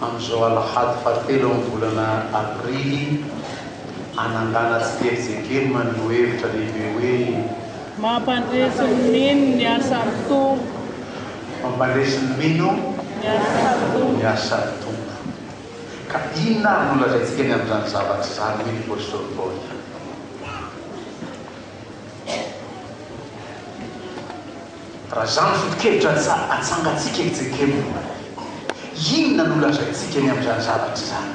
amin'izao alahady fahatelo amin'ny volana aprily hanangana tsikelikely maneho hevitra lehibe hoe. Mampandresy ny mino ny asan'ny Tompo. Mampandresy ny mino ny asan'ny Tompo. Ka inona ary no lazaintsika ny amin'izany zavatra izany hoy ny apostoly Paoly? Raha izany ny foto-kevitra atsangantsika eto Jekemo, inona no holazaintsika ny amin'izany zavatra izany?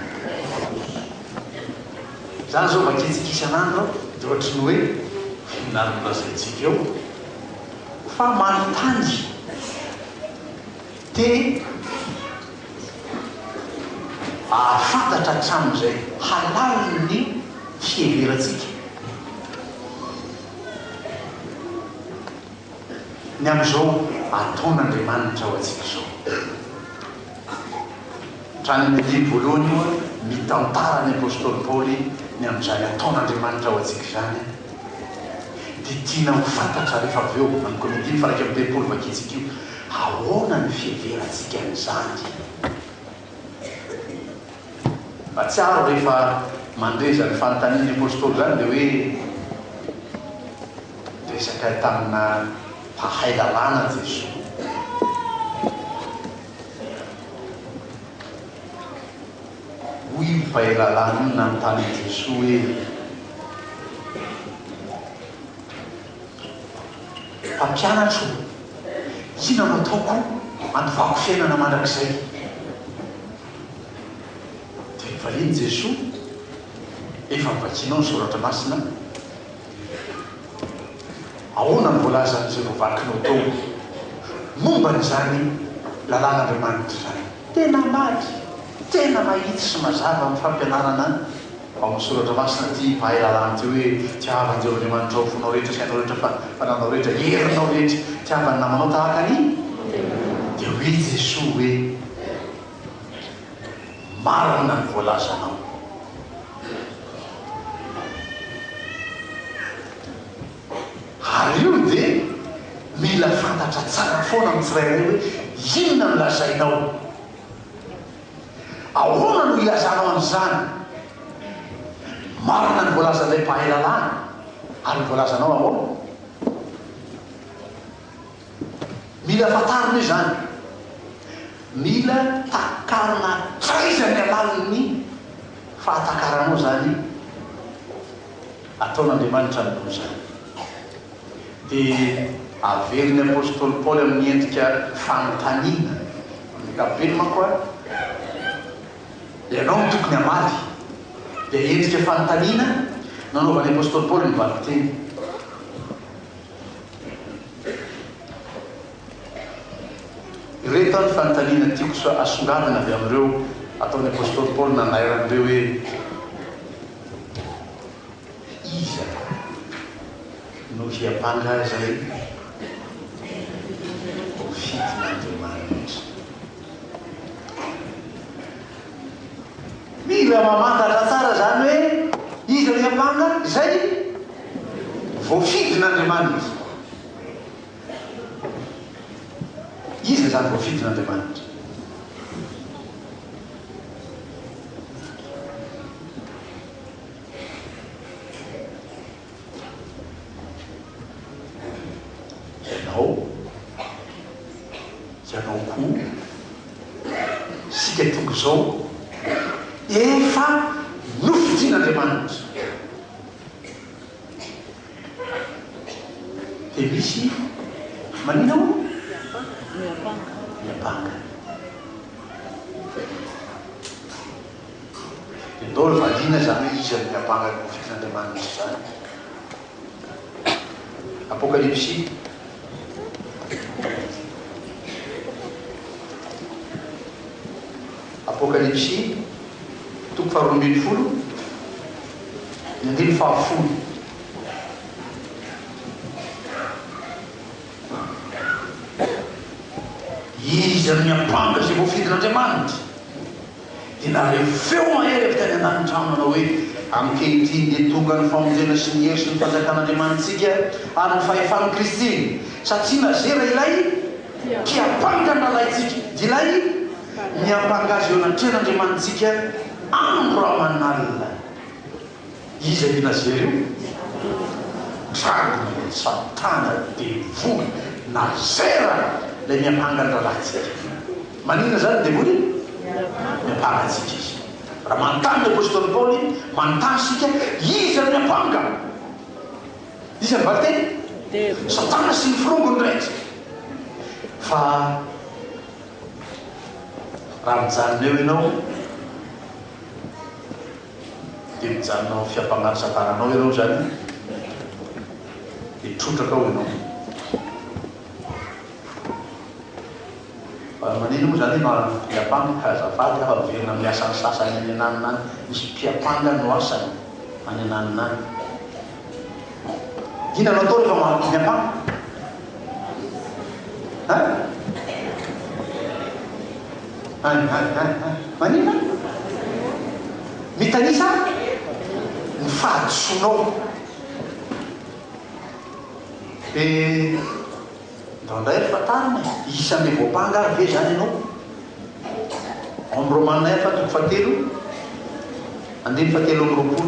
Izany izao vakintsika isan'andro dia ohatry ny hoe inona no holazaintsika eo? Fa manontany teny hahafantatra hatramin'izay halaliny ny fiheverantsika. Ny amin'izao ataon'Andriamanitra ho antsika izao. Hatrany amin'ny andiny voalohany moa, mitantara ny apostoly Paoly ny amin'izany ataon'Andriamanitra ho antsika izany, dia tiana ho fantatra rehefa avy eo, amiko amin'ny dimy faha iraika amby telopolo vakintsika io, ahoana ny fiheverantsika an'izany. Mahatsiaro rehefa mandre izany fanontanian'ny Apostoly izany dia hoe niresaka tamina mpahay lalàna Jesoa. Hoy io mpahay lalàna io nanontany an'i Jesoa hoe, Mpampianatro o, inona no ataoko handovako fiainana mandrakizay? Dia efa iny Jesoa, efa novakianao ny Soratra Masina, ahoana no voalazan'ny izay voavakinao tao momba izany Lalàn'Andriamanitra izany? Tena mady, tena mahitsy sy mazava amin'ny fampianarana. Ao amin'ny soratra masina ity mahay lalàna ity hoe, Tiava an'i Jehovah Andriamanitrao ho fonao rehetra, sainao rehetra, fananao rehetra, herinao rehetra. Tiava ny namanao tahaka ny tenanao. Dia hoe Jesoa hoe, Marina ny voalazanao. Ary io dia mila fantatra tsara foana amin'ny tsirairay hoe inona no lazainao. Ahoana no ilazanao an'izany? Marina ny voalazan'ilay mpahay lalàna, ary ny voalazanao ahoana? Mila fantarina io izany. Mila takarina hatraiza ny alalin'ny fahatakaranao izany ataon'Andriamanitra ny loza. dia averin'ny apostoly Paoly amin'ny endrika fanontaniana, amin'ny ankapobeny manko ary, Ianao no tokony hamaly? Dia endrika fanontaniana no anaovan'ny apostoly Paoly ny valinteny. Ireto ny fanontaniana tiako so asongadina avy amin'ireo ataon'ny apostoly Paoly nanairany ireo hoe Iza no hiampanga azy ahy? Ho fidin'Andriamanitra. Mila mamantatra tsara izany hoe iza no hiampanga izay voafidin'Andriamanitra. Iza izany voafidin'Andriamanitra? Ianao, ianao koa, isika toko izao, efa nofidin'Andriamanitra. Dia misy manina o? Miampanga. Miampanga. Dia ndao ry valiana izany hoe iza no miampanga ny mofo tian'Andriamanitra izany. Apokalypsy Apokalypsy toko faharoa ambin'ny folo ny andininy fahafolo. Iza no miampanga izay voafidin'Andriamanitra? dia nare feo mahery avy tany anatin'ny trano nanao hoe, Ankehitriny dia tonga ny famonjena sy ny hery sy ny fanjakan'Andriamanitsika ary ny fahefan'i Kristy, satria nazera ilay mpiampanga ny rahalahintsika, dia ilay miampanga azy eo anatrehan'Andriamanitsika andro aman'alina. Iza i Nazera io? Dragona ilay satana devoly Nazera ilay miampanga ny rahalahintsika. Maninona izany ny devoly? Miampanga antsika izy. Raha manontany ny apostoly Paoly, manontany isika, Iza no miampanga? Iza ny valinteny? Satana sy ny firongony indray izy. Fa raha mijanona eo ianao, dia mijanona ao amin'ny fiampangaro-savananao ianao izany, dia trotraka ao ianao. Fa maninona moa izany ianao ary mpiampanga ka azafady aho averina amin'ny asan'ny sasany any ananona any, misy mpiampanga no asany any ananona any. Inona no atao rehefa mampidiny ampango? Ha? Any, any, any, any. Maninona? Mitanisa ny fahadisoanao. Eh. Indraindray ry fantarina e! Isan'ireo voampanga ary ve izany ianao? Hommes Romains efa toko fahatelo andininy fahatelo amby roapolo.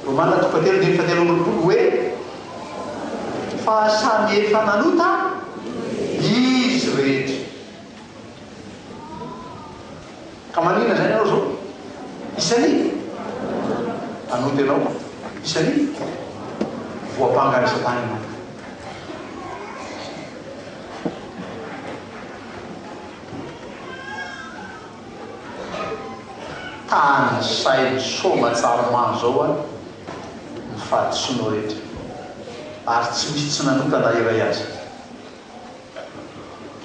Romana toko fahatelo andininy fahatelo amby roapolo hoe fa samy efa nanota izy rehetra. Ka maninona izany ianao izao? Isan'ny mpanota ianao, isan'ny voampangan'i Satana ianao. Tany saina soma tsaromano zao a ny fahadisoanao rehetra ary tsy misy tsy nanota na iray aza.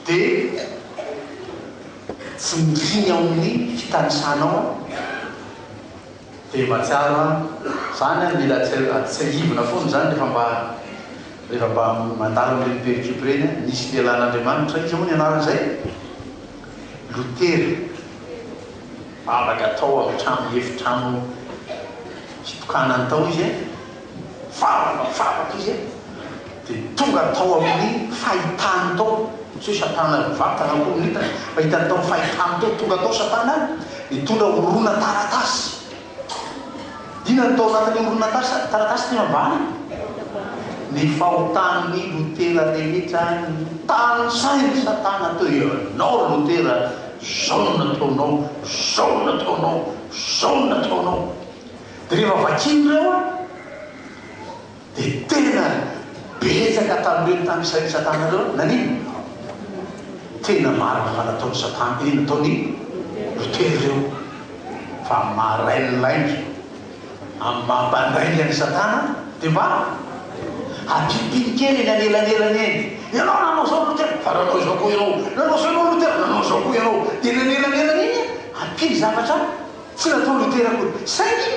dia tsy mikiana ao amin'ny fitanisanao aho dia mahatsiaro aho izany aho mila tsiahivina foana izany rehefa mba rehefa mba mandalo amin'ireny pericope ireny aho, nisy lehilahin'Andriamanitra, iza moa ny anaran'izay? Lotera, vavaka tao amin'ny trano efitrano fitokanany tao izy e, vavaka vavaka izy e. dia tonga tao amin'ny fahitany tao, tsy hoe satana mivantana akory no hitany, fa hitany tao amin'ny fahitany tao, tonga tao satana nitondra horonantaratasy, inona no tao anatin'io horonantarsa, taratasy ity mambany? ny fahotan'ny Lotera rehetra notanisainy satana teo, ianao Lotera zao no nataonao, zao no nataonao, zao no nataonao, dia rehefa vakiny ireo an, Dia tena betsaka tamin'ireo tany isain'i Satana ireo no nanino? Tena marina fa nataon'i Satana, eh, nataon'i Lotera ireo fa marain'ny lainga, ambamban-draingan'i Satana, dia mba hampipiny kely eny anelanelany eny, Ianao nanao izao Lotera, fa nanao izao koa ianao, nanao izao ianao Lotera, nanao izao koa ianao, dia eny anelanelany eny hampiny zavatra tsy nataon'i Lotera akory, saingy,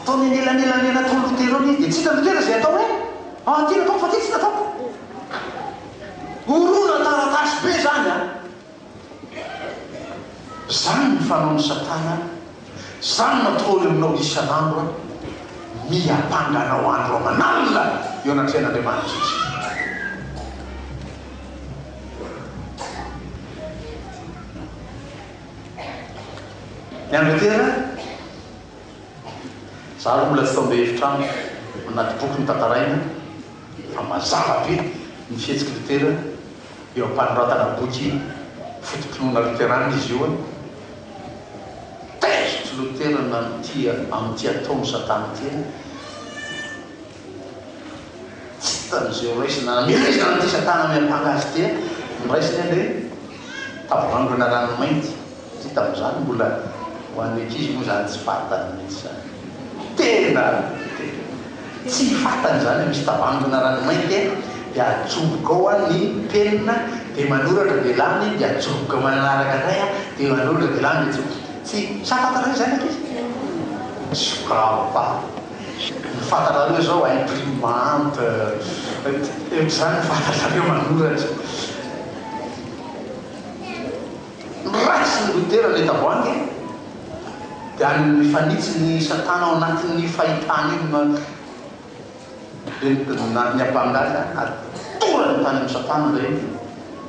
Tao anelanelan'ilay nataon'i Lotera eo anie dia tsy hitan'i Lotera izay atao hoe an ty nataoko fa ty tsy nataoko. Horonantaratasy be izany an! Izany ny fanaon'i Satana an! Izany no ataony aminao isan'andro an! Miampanga anao andro aman'alina eo anatrehan'Andriamanitra izy. Ny an'i Lotera. Za aloha mbola tsy tao be hevitra amiko anaty boky notantaraina fa mazava be ny fihetsiky Luther eo ampanoratana boky foto-pinoana loterana izy io. Taizotr'i Luther nanottia amin'ity ataon'i satana ity. Tany izay ho raisina hamela izany ity satana miampanga azy ity an! Noraisiny ange tavoahangina rano mainty satria tamin'izany mbola ho an'ny ankizy moa izany tsy fantany mihitsy izany. Tena tsy fantany izany hoe misy tavoahangina rano mainty e! Dia ajoboka ao an ny penina dia manoratra dia lany dia ajoboka manaraka indray an dia manoratra dia lany dia ajoboka. Tsy sa fantany izany ankizy? Sokafa. Ny fantatrareo izao imprimante eto izany ny fantatrareo manoratra. Raisiny ny goutera ilay tavoahangy dia any mifanitsy ny satana ao anatin'io fahitana io no dia ny apangalina atorany tany amin'ny satana ilay izy.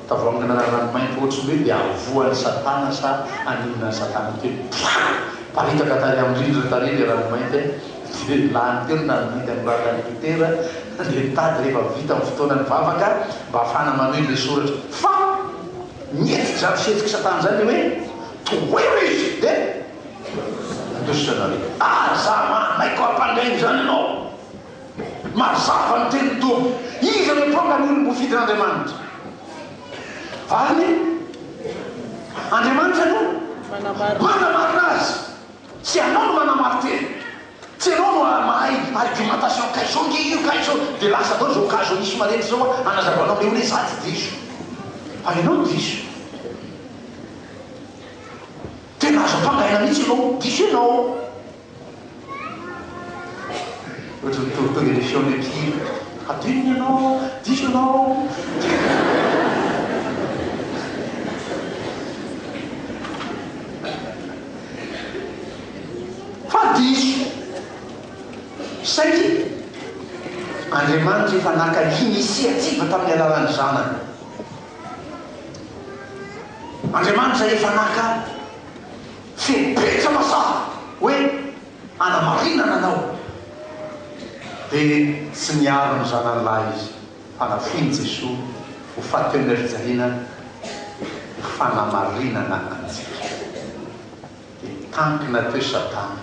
Tavoangina rano mainty ohatry ny hoe dia avoan'i satana sa haninona an'i satana kely. Pfaa! Miparitaka tary amin'ny rindrina tary ilay rano mainty a! Dia ny lahiny telo nandidy an'i Rakan'i Luther dia nitady rehefa vita ny fotoana nivavaka mba hahafahana manohy ilay soratra. Fa ny hetik'izany fihetsik'i satana izany dia hoe, Tohero izy dia handositra anareo. Aza manaiky ho ampangaina izany ianao! Mazava ny tenin'ny Tompo. Iza no tonga ny olom-bofidin'Andriamanitra? Valiny, Andriamanitra no manamarina azy. Tsy ianao no manamari-tena. Tsy ianao no mahay argumentation, ka izao nge io, ka izao, dia lasa daholo izao cas Oniso marenty izao an, hanazavanao an'ilay olona hoe za tsy diso. Fa ianao no diso. Tena azo ampangaina mihitsy ianao, diso ianao. Ohatry ny torotoro émission ny mpihira, hadino ny anao, diso ianao. Fa diso! Saingy Andriamanitra efa naka initiative tamin'ny alalan'ny Zanany. Andriamanitra efa naka. Feno betsa mazava hoe hanamarinana anao. Dia tsy niaro ny zanany lahy izy fa nafoin'i Jesoa ho fateon'erijahina ho fanamarinana antsika. Dia tankina teo Satana.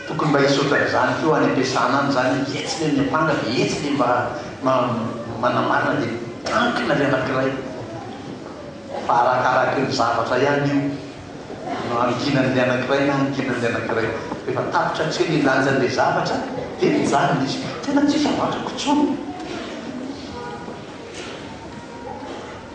Tokony mba hisy ohatran'izany koa any am-piasana any izany hoe etsy ve ny ampanga dia etsy ve mba manamarina dia miankina ilay anankiray fa arakaraky ny zavatra ihany io no hankinan'ilay anankiray na hankinan'ilay anankiray rehefa tapitra hatreha ny lanjan'ilay zavatra dia mijanona izy. Tena tsy isavakako intsony.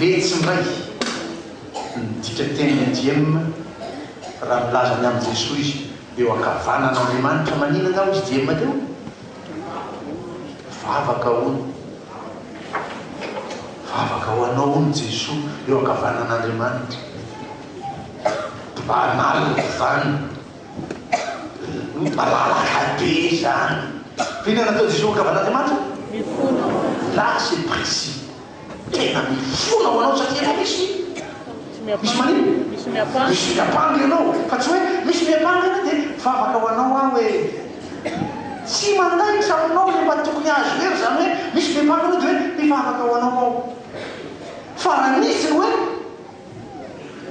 Letsy indray ny dikateny ADM raha milaza ny amin'i Jesoa izy eo ankavanan'Andriamanitra maninona aho izy DM teo? Vavaka hono Vavaka ho anao hono Jesoa eo ankavanan'Andriamanitra Banal zany Ny malalaka be izany. Inona no nataon'i Jesoa ho Angavan'Andriamanitra? Mifona. Là c'est précis. Tena mifona ho anao satria ianao misy misy manino? Misy miampanga. Misy miampanga ianao. Fa tsy hoe misy miampanga ianao dia mivavaka ho anao aho hoe tsy mandaitra aminao ilay mba tokony azo hery izany hoe misy miampanga ianao dia hoe mivavaka ho anao aho. Fa raha misy ny hoe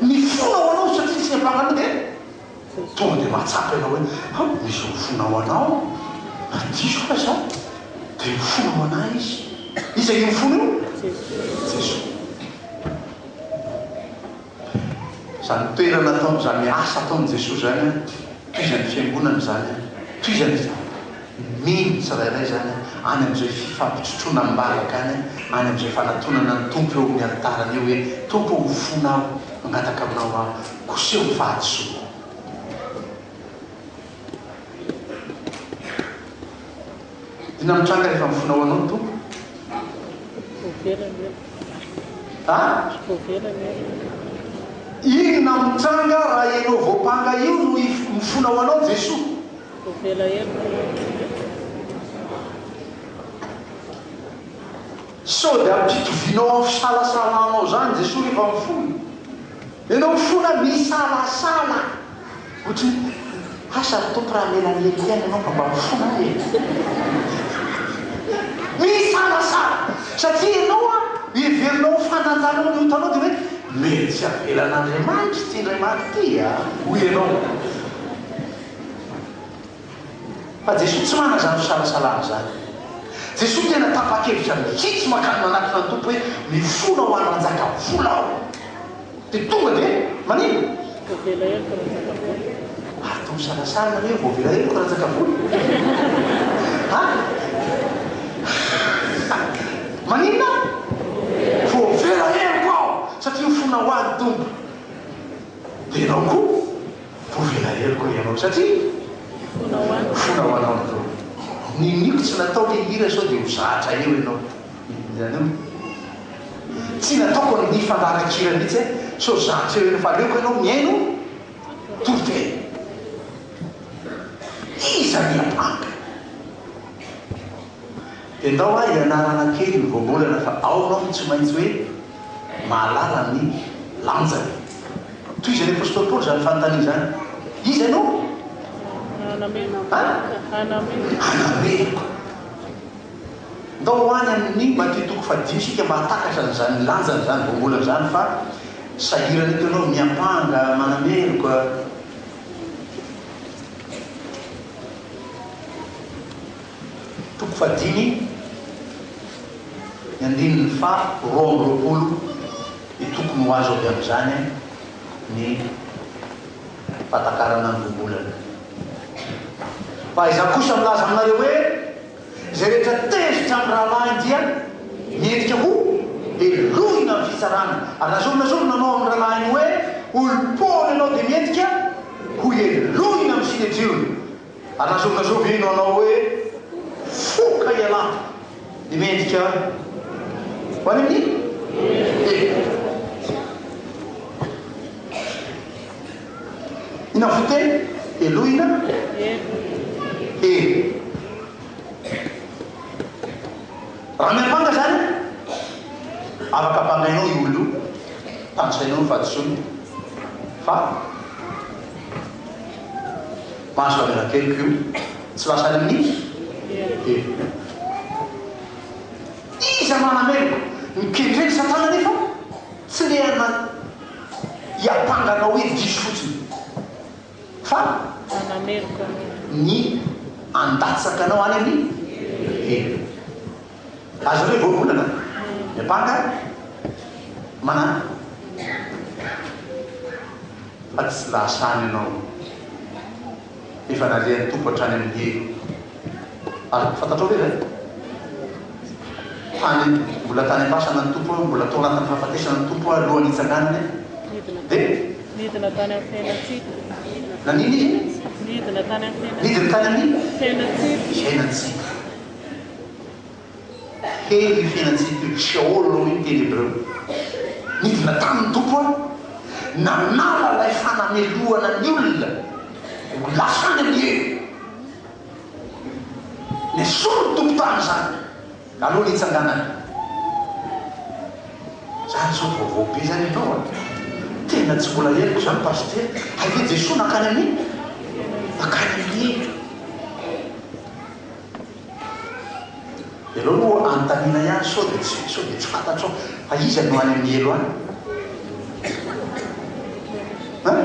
Mifona ho anao satria tsy amparana dia tonga dia mahatsapa ianao hoe ha misy mifona ho anao na diso aza aho dia mifona ho anah izy. Iza io mifona io? Jesoa. Izany toerana ataony izany asa ataony Jesoa izany an, tohizan'ny fiangonana izany an, tohizany izany. Minia ny tsirairay izany any amin'izay fifampitrotroana am-bavaka any, any amin'izay fanatonana ny Tompo eo amin'ny alitarany eo hoe, Tompo ô, ho fona aho, mangataka Aminao aho, koseho ny fahadisoako. Inona no mitranga rehefa mifona ho Anao ny Tompo? A? Inona mitranga raha ianao voampanga io no mifona ho Anao ny Jesoa? Sao dia ampitovianao amin'ny fisalasalanao izany Jesoa rehefa mifona? Ianao mifona misalasala ohatran'ny hoe asa ry Tompo raha hamela an'i Eliana Ianao fa mba mifona ahy e! Misalasala satria ianao an, heverinao ho fananjanao ny otanao dia hoe mety tsy avelan'Andriamanitra ity indray maty ity a! hoy ianao. Fa Jesoa tsy manana izany fisalasalana izany. Jesoa tena tapa-kevitra mihitsy mankany manatona ny Tompo hoe mifona ho hananjaka vola aho. Dia tonga dia manino? Voavela heloka nanjaka vola. Ary toa misalasala nareo, voavela heloka nanjaka vola? Ha? Maninona? Voavela heloka aho satria mifona ho an'ny Tompo. Dia ianao koa Voavelaelo koa ianao satria fona ho anao fona ho anao ny toro. Niniako tsy natao le hira sao dia ho zatra eo ianao hiranao e. Tsy nataoko ny hifandaran-kira mihitsy e sao zatra eo ianao fa aleoko ianao mihaino toro tena. Iza ny hiampanga? Dia ndao aho hianarana kely ny voambolana fa ao ianao no tsy maintsy hoe mahalala ny lanjany. Tohizan'ny apostoly Paoly izany fanontaniana izany, Iza ianao? Hanameloka. Ndao ho any amin'ny Matio toko fahadimy isika mba hahatakatra an'izany lanjany izany voambolana izany fa sahirana eto ianao miampanga manameloka. Toko fahadimy, ny andininy faha roa amby roapolo, dia tokony ho azo avy amin'izany ny fahatakarana ny voambolana. Fa izaho kosa milaza aminareo hoe, izay rehetra tezitra amin'ny rahalahiny dia mendrika ho helohina amin'ny fitsarana, ary na zorona zorona anao amin'ny rahalahiny hoe olom-poana ianao dia mendrika ho helohina amin'ny synedriona. Hanazokazoka ino anao hoe foka ialahy ny mendrika ho any amin'ny Mpiteny? Inona fo teny? Helohina? Hery. Raha miampanga izany, afaka ampangainao io olona io, tanisainao ny fahadisoany fa. Mahazo kamera telo ko tsy lasa any amin'iny? Telo. Iza manamelo? Mikendrena satana nefa tsy lehana hiampanga anao hoe diso fotsiny fa ny handatsaka anao any amin'ny helo. Aza hoe voavolana ny mpaka manana fa tsy lasa any ianao efa nalehan'ny Tompo hatrany amin'ny helo ary fantatrao ve ve fa ny mbola tany am-pasana ny Tompo hoe mbola tao anatin'ny fahafatesana ny Tompo alohan'ny hitsanganany dia nidina tany amin'ny fiainantsika nanino izy? nidina tany amin'ny fiainantsika nidina tany amin'ny fiainantsika fiainantsika Hery io fiainantsika io, Sheol hoy ny teny hebreo. Nidina tany ny Tompo an! Nanala ilay fanamelohana ny olona ho lasa any amin'ny hery. Nesory ny Tompo tany izany aloha ny hitsanganany. Zany zao vaovao be zany ianao an! Tena tsy mbola henoko izany Pasitera, hay ve Jesoa nankany amin'ny? Nankany amin'ny hery. Ianao no anontaniana ihany sao dia tsy sao dia tsy fantatrao fa iza no any amin'ny helo any? An?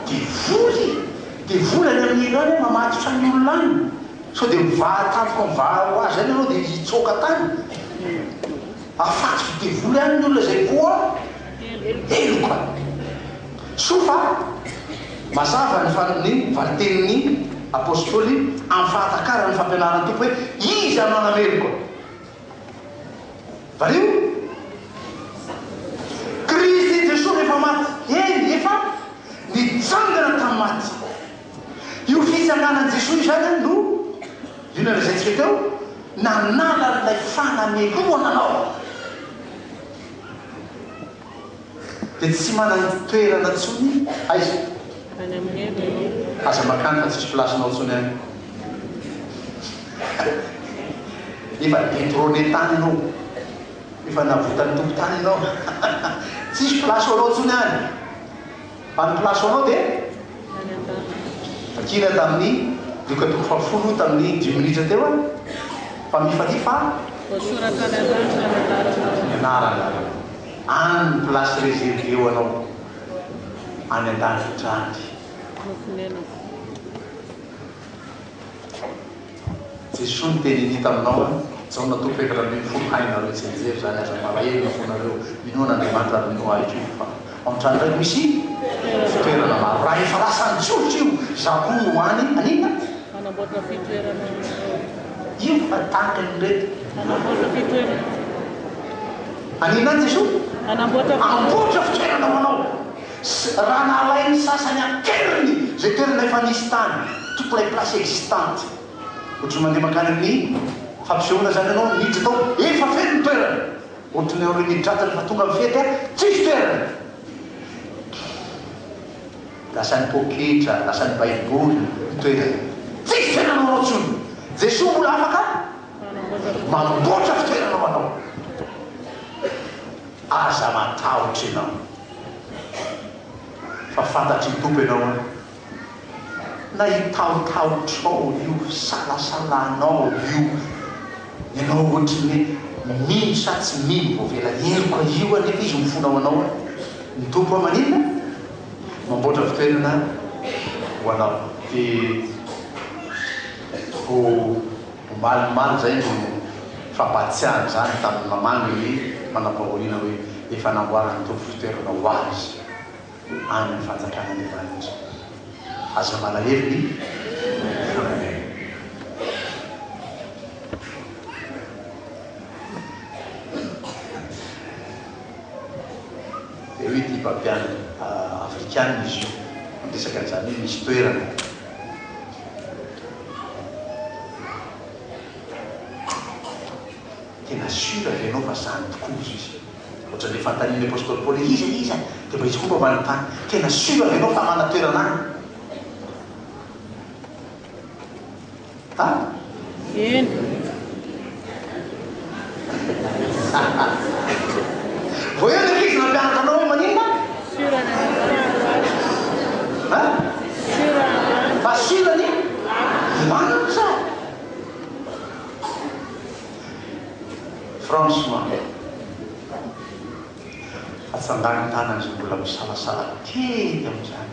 Devoly! Devoly any amin'ny helo any mamatotra ny olona any. Sao dia mivaha tampoka mivaha ho azy any ianao dia hitsoaka tany? Afatsy ho devoly ihany ny olona izay voa heloka. Soa fa mazava ny valin-tenin'ny Apostoly amin'ny fahatakaran'ny fampianaran'ny Tompo hoe Iza no hanameloka? Variho, Kristy Jesoa rehefa maty, eny, efa nitsangana tamin'ny maty. Io fitsanganan'i Jesoa izany no, io nolazaintsika teo, nanala an'ilay fanamelohana anao. Dia tsy manan-toerana intsony aiza? Any amin'ny hery ianao. Aza makany fa tsy misy place-nao intsony any. Efa detrone tany ianao. Efa navotan'ny Tompo tany ianao. Tsisy place ho anao intsony any. Fa ny place anao dia? Any ambavany. Kira tamin'ny dioka toko fahafolo tamin'ny dimy minitra teo aho fa mifalia fa? Voasoratra any ambany fa ny anaranao. Ny anarana. Any ny place reservée ho anao. Any an-danitra any. Nofonenako. Jesoa niteny an'i taminao an Jaona toko fahefatra ambin'ny folo hainareo tsy hianjery izany aza malahelo na fonareo minoa an'Andriamanitra ary minoa ahy koa fa ao an-trano iray no misy fitoerana maro raha efa lasa nitsofotra io za koa no any anina manamboatra fitoerana io fa tahaka ny reto manamboatra fitoerana anina Jesoa manamboatra fitoerana ho anao Sy raha nalain'ny sasany an-keriny izay toerana efa nisy tany, toutes les places existantes, ohatry ny mandeha mankany amin'ny fampisehoana izany ianao, miditra tao, efa feno ny toerana, ohatry ny ireo midratra rehefa tonga amin'ny fety, tsisy toerana. Lasan'ny poketra, lasan'ny baiboly ny toerana, tsisy toerana ho anao intsony. Jesoa mbola afaka manamboatra fitoerana ho anao. Aza matahotra ianao fa fantatr'i Tompo ianao an! Na hitahotahotrao io, hisalasalanao io, ianao ohatry ny hoe mino sa tsy mino vao vela heloka io anefa Izy mifona ho anao an! Ny Tompo an maninona? Mamboatra fitoerana ho anao. Dia ho Omaly omaly izay no fampahatsiahany izany tamin'ny mamangy ny manam-pahoriana hoe efa namboaran'ny Tompo fitoerana ho azy any amin'ny fanjakana andian'anitra. Aza malahelo ny volamena. Teo ity mpampianatra afrikana izy io, niresaka an'izany hoe misy toerana. Tena sûr ve ianao fa zany tokoa hoy Jésus? Ohatran'ilay fanontanian'ny apostoly Paoly hoe iza iza dia mba hitsikomba ambany tany? Tena sûr ve ianao fa hanana toerana any? An? Eny. Vao eo ny ankizy nampianatra anao hoe maninona? Sira ny hanitra. An? Sira ny hanitra. Fa sira ny hanitra. Franchement. Atsangan-tàna izay mbola misalasala kely amin'izany.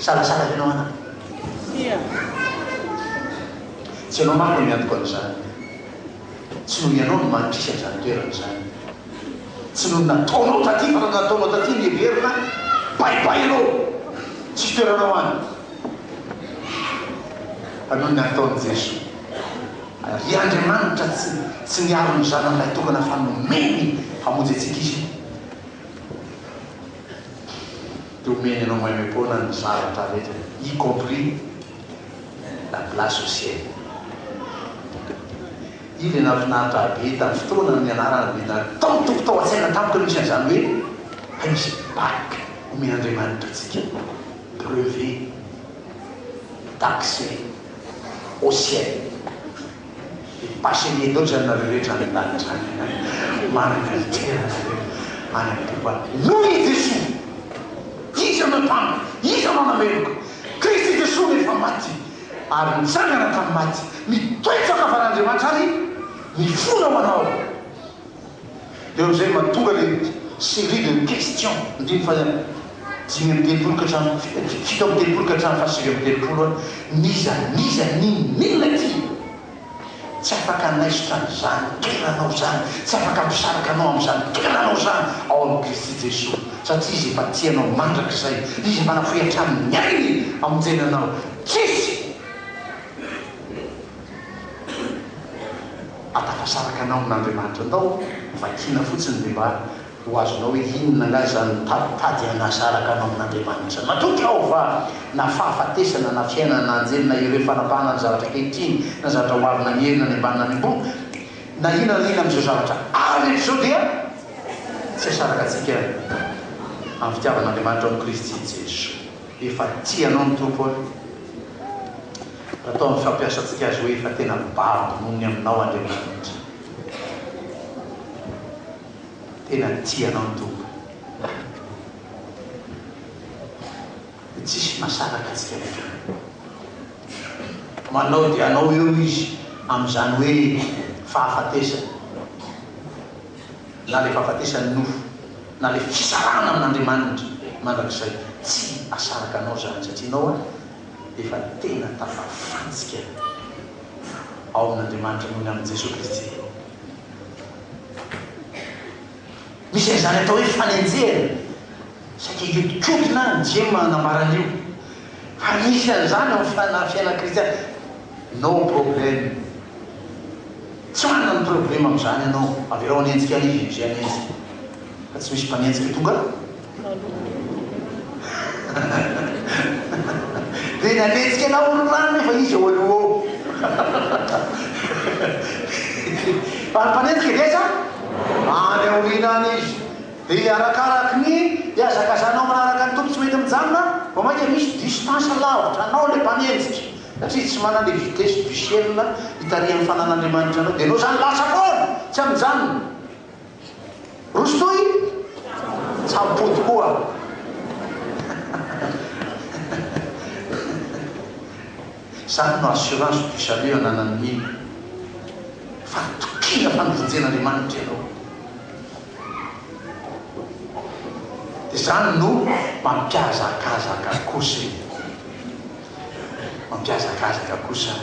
Salasala ianao an! Tsia. Tsy ianao manko no miantoka an'izany. Tsy noho ianao no mankisy an'izany toerana izany. Tsy noho ny nataonao taty fa noho ny nataonao taty no heverina baibay ianao. Tsisy toeranao any. Fa noho ny nataon'i Jesoa. Ary Andriamanitra tsy tsy niaro ny Zanany Lahitokana fa nomeny hamonjy antsika Izy. Dia omeny anao maimaim-poana ny zavatra rehetra, y compris la place au ciel. Io ilay nahafinaritra ahy be tamin'ny fotoana nianarana be na tao toko tao an-tsaina tamiko ny misy an'izany hoe hay misy bac omen'Andriamanitra antsika, brevet, d'accès au ciel. Passez les notes anareo rehetra any an-danitra any. Manana litera nareo any amin'ny pokoa. Noho i Jesoa. Iza no mpampa? Iza no nameloka? Kristy Jesoa no efa maty ary nitsangana tamin'ny maty. Mitoetra ankavan'Andriamanitra ary mifona ho anao. Dia eo amin'izay mba tonga ilay série de questions, ny teny faha dimy amby telopolo ka hatramin'ny fi-, fito amby telopolo ka hatramin'ny fahasivy amby telopolo hoe, n'iza n'iza, n'inon'inona ity? Tsy afaka hanaisotra an'izany toeranao izany, tsy afaka hampisaraka anao amin'izany toeranao izany ao amin'i Kristy Jesoa, satria Izy efa tia anao mandrakizay, Izy efa nafoy hatramin'ny ainy hamonjena anao. Tsisy! Atafasaraka anao amin'Andriamanitra Andao vakiana fotsiny ny mba ho azonao hoe inona angaha izany mitaditady hanasaraka anao amin'Andriamanitra izany. Matoa traova na fahafatesana na fiainana na anjely na ireo fanapahana ny zavatra ankehitriny na zavatra ho avy na ny hery na ny ambany na ny ambony na inona na inona amin'izao zavatra ary rehetra izao dia tsy asaraka antsika amin'ny fitiavan'Andriamanitra ao amin'i Kristy Jesoa. Efa tia anao ny Tompo a! Raha toa mifampiasantsika azy hoe efa tena babo noho ny aminao Andriamanitra. Tena tia anao ny Tompo. Dia tsisy mahasaraka antsika miatrika. Manao dia anao eo Izy amin'izany hoe fahafatesana. na le fahafatesan'ny nofo, na le fisarahana amin'Andriamanitra mandrakizay, tsy asaraka anao zany satria enao efa tena tafafantsika ao amin'Andriamanitra noho ny amin'i Jesoa Kristy. Misy an'izany atao hoe fanenjehana. Saika hihodinkodina any Jim hanambara an'io. Fa misy an'izany ao amin'ny fiainan'ny kristiana. No problem. Tsy manana ny problème amin'izany ianao. Avelao hanenjika an'i Jim izay hanenjika. Fa tsy misy mpanenjika tonga aloha. Dia nanenjika anao ny rano nefa izy ao aloha ao. Fa ny mpanenjika dia aiza? Any aoriana any izy. Dia arakaraky ny hihazakazanao manaraka ny Tompo tsy mety mijanona vao mainka misy distance lavitra anao ilay mpanenjika satria tsy manana ilay vitesse du ciel hitarihan'ny fanan'Andriamanitra anao dia enao izany lasa foana tsy aminjanona rosotoy tsampo tokoa izany no assurance du salut ananan'ny mino fa tokiana fa novojen'Andriamanitra ianao Izany no mampiazakazaka kosa e! Mampiazakazaka kosa an!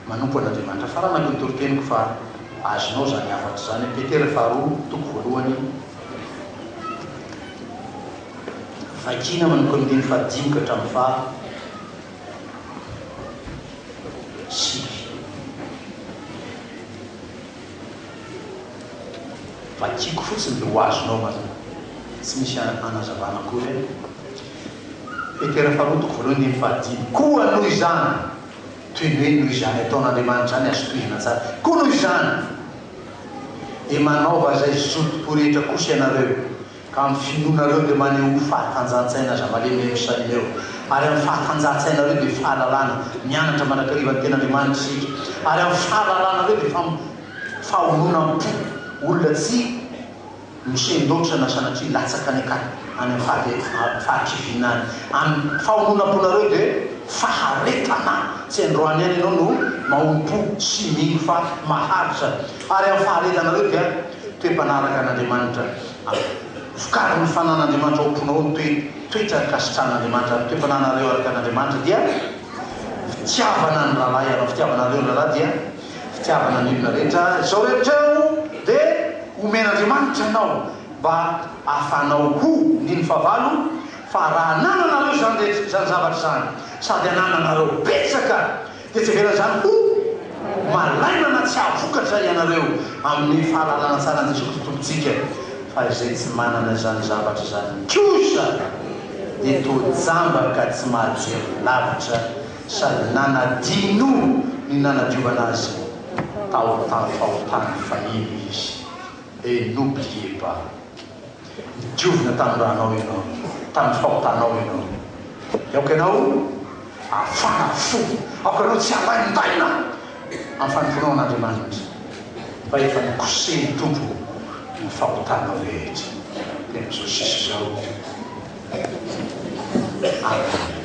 Manompo an'Andriamanitra. Faranako ny toriteniko fa azonao izany hafatra izany. Petera faharoa, toko voalohany. Vakina manomboka amin'ny andininy fahadimy ka hatramin'ny faha sivy. Vakiko fotsiny dia ho azonao mazava. Tsy misy hanazavana akory e. Petera faharoa toko voalohany andininy fahadimy. Koa noho izany, toy ny hoe noho izany ataon'Andriamanitra izany, azo tohizana tsara, koa noho izany dia manaova izay zotom-po rehetra kosa ianareo, Ka amin'ny finoanareo dia maneho ho fahatanjahantsaina aza malemy eo Ierosalema eo, ary amin'ny fahatanjahantsainareo dia fahalalana, mianatra mandrakariva ny Tenin'Andriamanitra isika, ary amin'ny fahalalanareo dia fam, fahononam-po, olona tsy nosen-doatra na sanatria latsaka any an-kady, any amin'ny fahavetan, fahakiviana any, amin'ny fahononam-ponareo dia faharetana, tsy androany ihany ianao no mahonom-po sy mino fa maharitra, Ary amin'ny faharetanareo dia toe-panaraka an'Andriamanitra amin'ny vokarin'ny fanan'Andriamanitra ao am-ponao ny toe, toetra ankasitrahan'Andriamanitra, ary ny toe-pananareo araka an'Andriamanitra dia fitiavana ny rahalahy ianao, fitiavanareo ny rahalahy dia fitiavana ny olona rehetra, izao rehetra ireo dia omen'Andriamanitra anao mba hahafahanao ho, ny ny fahavalo, fa raha anananareo izany rehetra, izany zavatra izany, sady anananareo betsaka, Tetezera izany ho malaina na tsy hahavokatra ianareo amin'ny fahalalana tsara an'i Jesoa Kristy Tompontsika, fa izay tsy manana izany zavatra izany kosa dia toa jambaka tsy mahajery lavitra sady nanadino ny nanadiovana azy tao an-tany fahotany fahiny izy et n'oubliez pas. Diovina tamin'ny ranao ianao, tamin'ny fahotanao ianao. Dia aoka ianao hafana fo, aoka ianao tsy halain-daina amin'ny fanompoanao an'Andriamanitra, fa efa nokosehin'ny Tompo ny fahotanao rehetra. Dia amin'izao sisa izao. Amen.